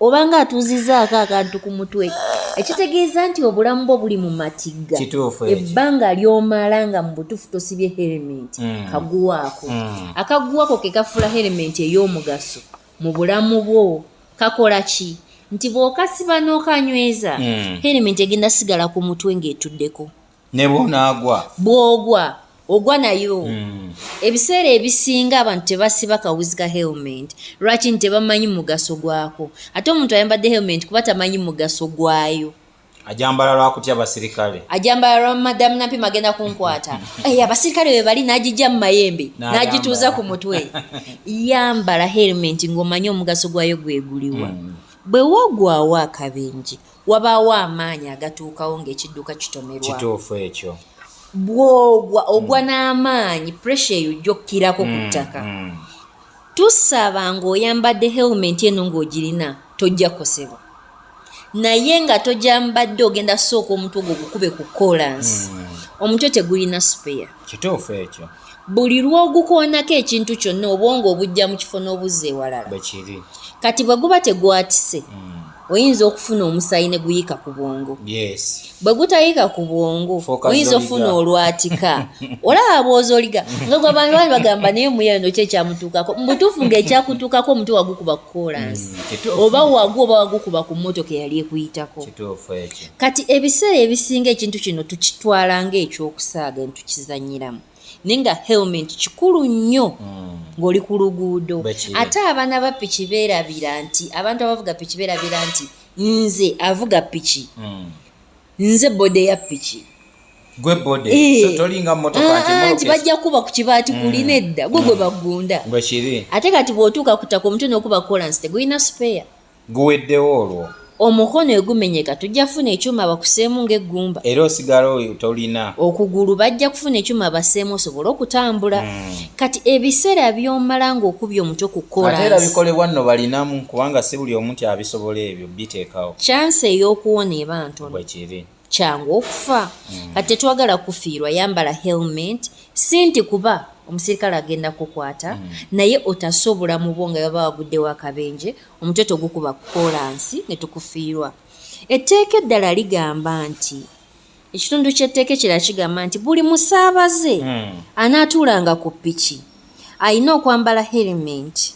obanga atuuzizaako akantu ku mutwe ekitegeeza nti obulamu bwo buli mu matigga ebbanga lyomala nga mu butuufu tosibye helementi mm. kaguwaako mm. akaguwako ke kafuula helementi ey'omugaso mu bulamu bwo kakola ki nti bw'okasiba n'okanyweza mm. helementi egenda sigala ku mutwe ng'etuddeko ne bwonaagwa bwogwa ogwa nayo hmm. ebiseera ebisinga abantu tebasiba kawuzi ka helment lwaki nti tebamanyi mugaso gwako ate omuntu ayambadde helment kuba tamanyi mugaso gwayo ajambala lwakutya abasirikale ajambala lwa madamu napi magenda kunkwata eh, abasirikale webali nagijja mu mayembe nagituuza ku mutwe yambala helment ng'omanyi omugaso gwayo gweguliwa hmm. bwe wogwawo akabenje wabaawo amaanyi agatuukawo ng'ekidduka kitomerwa kituufu ekyo bwogwa ogwa mm. n'amaanyi puresha eyo ojja okukirako ku mm, ttaka mm. tusaba ng'oyambadde helmenti eno ng'ogirina tojja kukosebwa naye nga tojambadde ogenda sooka omutwe ogwo gukube ku kolansi omutwe tegulina sipeya kituufu ekyo buli lw'ogukoonako ekintu kyonna obwongo obujja mu kifo n'obuzza ewalala kati bwe guba tegwatise hmm. oyinza okufuna omusaayi ne guyiika ku bwongo bwe gutayiika ku bwongo oyinza okufuna olwatika olaba bwoza oliga nga gwabantu bali bagamba naye omuyayo nokyo ekyamutuukako mubutuufu ngaekyakutuukako omuti wagukuba ku koolansi hmm, oba wagwa oba wagukuba ku mmotoka eyali ekuyitako kati ebiseera ebisinga ekintu kino tukitwala ng'ekyokusaaga ne tukizannyiramu naye nga helmet kikulu nnyo hmm. ng'oli ku luguudo ate abaana ba piki beerabira nti abantu abavuga piki beerabira nti nze avuga piki hmm. nze bode ya piki gwe bode eh. so tolinga motoka nti ah, ah, bajja kuba ku kibaati hmm. kulina edda gwe gwe bagunda ate kati bw'otuuka ku ttaka omutwe n'okuba kolansi tegulina sipeya guweddewo olwo omukono egumenyeka tujja kufuna ekyuma bakuseemu ng'eggumba era osigala oyo tolina okugulu bajja kufuna ekyuma baseemu osobole okutambula hmm. kati ebiseera byomala ng'okubya omutwe ku kolaera bikolebwa nno balinamu kubanga si buli omu nti abisobola ebyo biteekawo kyansi ey'okuwona eba ntono bwekiri kyangu okufa hmm. kati tetwagala kufiirwa yambala helmet si nti kuba omusirikale agenda kukwata hmm. naye otase obulamu bwo nga baba waguddewo akabenje omutwe togukuba kukolansi ne tukufiirwa etteeka eddala ligamba nti ekitundu ky'etteeka ekirala kigamba nti buli musaabaze hmm. anaatuulanga ku piki alina okwambala helmet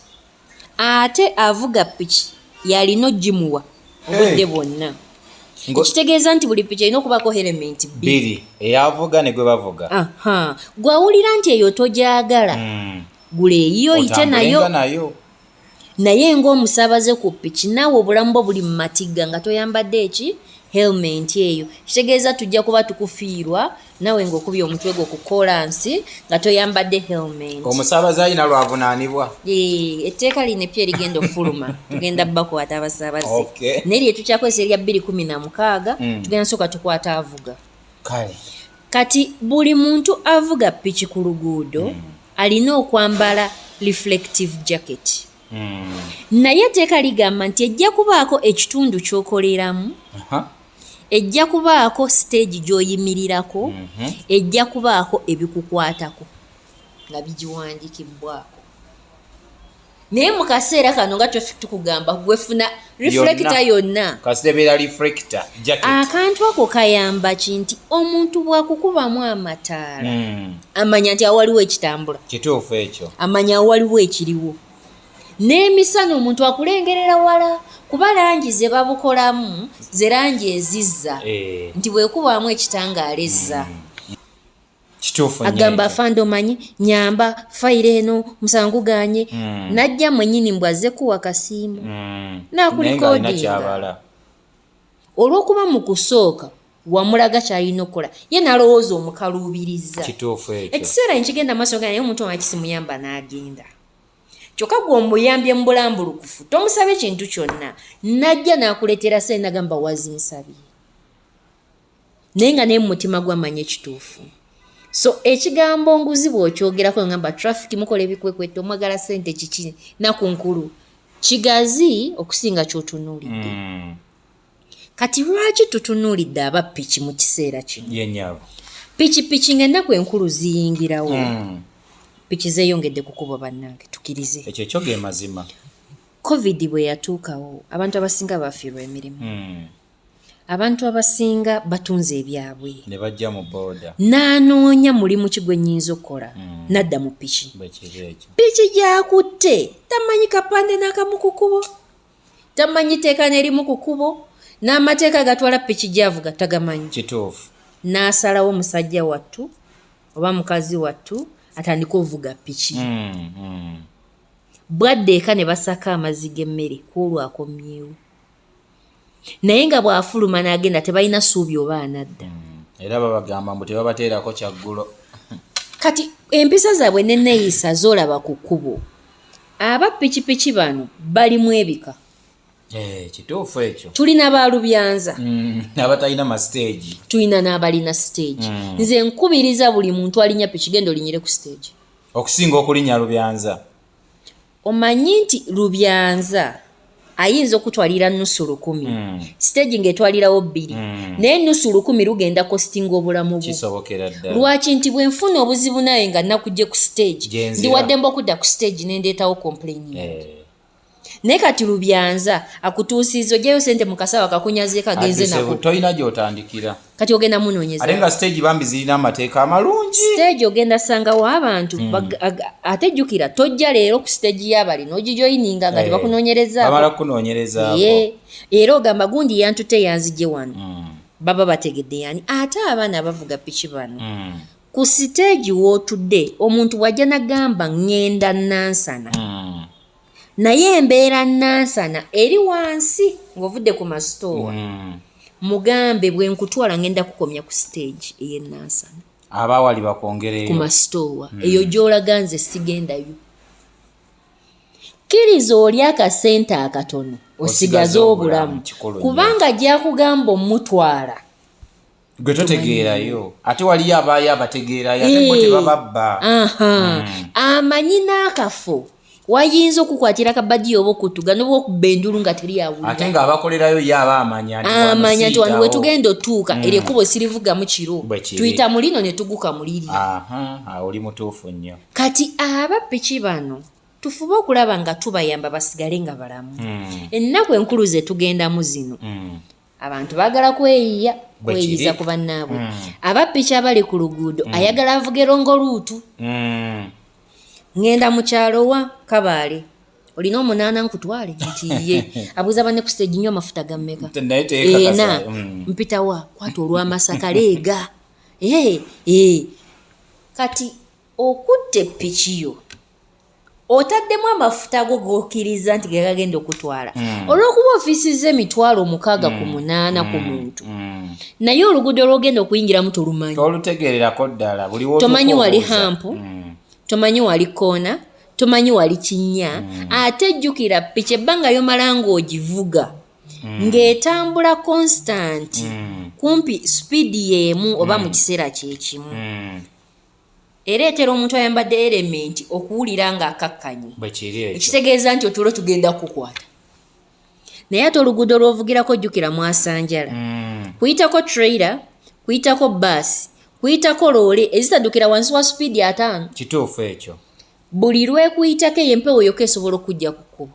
ate avuga piki yalina ogimuwa obudde bwonna ekitegeeza nti buli piki erina okubaako helementi bbiri eyavuga ne gwe bavuga gwawulira nti eyo togyagala hmm. gula eyiyo oyite nayo naye ng'omusaabaze ku piki naawe obulamu bwo buli mu matigga nga toyambadde eki helementi eyo kitegeeza tujja kuba tukufiirwa nawe ng'okubye omutwe gwo ku kolansi nga toyambadde helmet omusaabaze alina lwavunaanibwa etteeka lino eppya erigenda okufuluma tugenda bakwata abasaabaze naye lye tukyakozesa erya bbiri kumi na mukaaga mm. tugenda sooka tukwata avuga kale kati buli muntu avuga piki ku luguudo mm. alina okwambala reflective jacket mm. naye etteeka ligamba nti ejja kubaako ekitundu ky'okoleramu ejja kubaako siteegi gy'oyimirirako mhm. ejja kubaako ebikukwatako nga bigiwandikibbwako naye mu kaseera kano nga tukugamba gwefuna reflecta yonna akantu ako kayamba ki nti omuntu bwakukubamu amataala hmm. amanya nti awaliwo ekitambula kituufu ekyo amanya awaliwo ekiriwo n'emisana omuntu akulengerera wala kuba langi ze babukolamu ze langi ezizza eh. nti bwekubaamu ekitangaala ezza mm. agamba fanda omanyi nyamba fayiro eno musango ganye mm. najja mwenyini mbw azze kuwa kasiimu mm. nakulikodinga olwokuba mu kusooka wamulaga kyalina okukola ye nalowooza omukaluubiriza ekiseera nkigenda maaso ganaye omuntu omakisimuyamba n'agenda kyokka gwe omuyambye mu bulambulukufu tomusabye kintu kyonna najja n'akuleetera sente nagamba wazinsabye naye nga naye mu mutima gwamanya ekituufu so ekigambo nguzi bw'okyogerako ngamba traffic mukola ebikwekweto omwagala sente kiki naku nkulu kigazi okusinga kyotunuulidde mm. kati lwaki tutunuulidde aba piki mu kiseera kino yenyabo pikipiki ngaennaku enkulu ziyingirawo mm. piki zeyongedde kukuba bannange tukirize ekyo kyo ge mazima covid bwe yatuukawo abantu abasinga bafiirwa emirimu mm. abantu abasinga batunze ebyabwe ne bajja mu booda n'anoonya mulimu ki gwe nnyinza okukola mm. nadda mu piki piki gyakutte tamanyi kapande n'akamu ku kubo tamanyi tteeka nerimu ku kubo n'amateeka agatwala piki gyavuga tagamanyi kituufu n'asalawo musajja wattu oba mukazi wattu atandika ovuga piki mm, mm. bwadde eka ne basaka amazzi g'emmere ku olwo akomyewo naye nga bw'afuluma n'agenda tebalina suubi oba anadda mm, era babagamba mbu tebabateerako kyaggulo kati empisa zaabwe neneyisa zolaba ku kkubo aba pikipiki bano balimu ebika eh, kituufu ekyo tulina balubyanza mm, abatalina masiteegi tulina n'abalina siteegi mm. nze nkubiriza buli muntu alinya piki genda olinyire ku siteegi okusinga okulinya lubyanza omanyi nti lubyanza ayinza okutwalira nusu lukumi mm. stage ngaetwalirawo bbiri mm. naye nusu lukumi lugenda kostinga obulamu bwo lwaki nti bwenfuna obuzibu naye nga nakugye ku stage ndiwaddemba okudda ku stage nendeetawo complaining eh. naye kati lubyanza akutuusiza ojayo sente mukasawa kakunyazeeko agenze nako kati ogenda munonyeza ate nga stage bambi zirina amateeka amalungi stage ogenda sangawo abantu mm. ate jjukira tojja leero ku stage yabali nogijoyininga nga hey. Eh, tebakunonyerezaamala kukunonyereza ye era ogamba gundi yantute yanzije wano mm. baba bategedde yani ate abaana bavuga piki bano mm. ku stage wotudde omuntu wajja nagamba ngenda nansana mm. naye embeera nansana eri wansi ng'ovudde ku masitoowa mm. mugambe bwe nkutwala ngenda kukomya ku siteegi eyenansana abaawali bakwongereyo ku masitoowa mm. eyo gy'olaga nze sigendayo kkiriza oli akasente akatono osigaze obulamu kubanga gyakugamba omutwala gwe totegeerayo ate waliyo abaayo abategeerayo ate bo tebababba hmm. amanyi n'akafo wayinza okukwatira kabadiyo oba okutuga noba okubba endulu nga teri awuliraate nga abakolerayo ye aba amanya amanya nti wano wetugenda otuuka hmm. eryo ekkubo sirivugamu kiro tuyita mu lino ne tuguka mu liri oli mutuufu nnyo kati aba piki bano tufube okulaba nga tubayamba basigale nga balamu hmm. ennaku enkulu zetugendamu zino abantu bagala kweyiya kweyiza ku bannaabwe mm. abappiki abali ku luguudo mm. ayagala avuge longo luutu mm. ŋŋenda mu kyalo wa kabaale olina omunaana nkutwale nti ye abuuza banne ku siteegi nnyo amafuta gammeka ena mm. mpitawa kwata olw'amasaka leega ee eh, ee eh. kati okutte ppikiyo otaddemu amafuta ago gokiriza nti gegagenda okutwala mm. olwokuba ofisiza emitwalo omukaaga mm. ku munaana mm. ku hmm. muntu mm. naye oluguudo lwogenda okuyingiramu tolumanyi tolutegererako ddala tomanyi wali hampu mm. tomanyi wali koona tomanyi wali kinya mm. ate jjukira piki ebbanga yomala ngaogivuga mm. ng'etambula konsitanti mm. kumpi sipiidi y'emu oba mu mm. kiseera kyekimu mm. ereetera omuntu ayambadde erementi okuwulira nga akakkanye ekitegeeza nti otulo tugenda kukwata naye ate oluguudo lwovugirako jjukira mwasanjala mm. kuyitako traira kuyitako baasi kuyitako loole ezitaddukira wansi wa supiidi ataano kituufu ekyo buli lwekuyitako eyo empewo yoka esobola okujja ku kkubo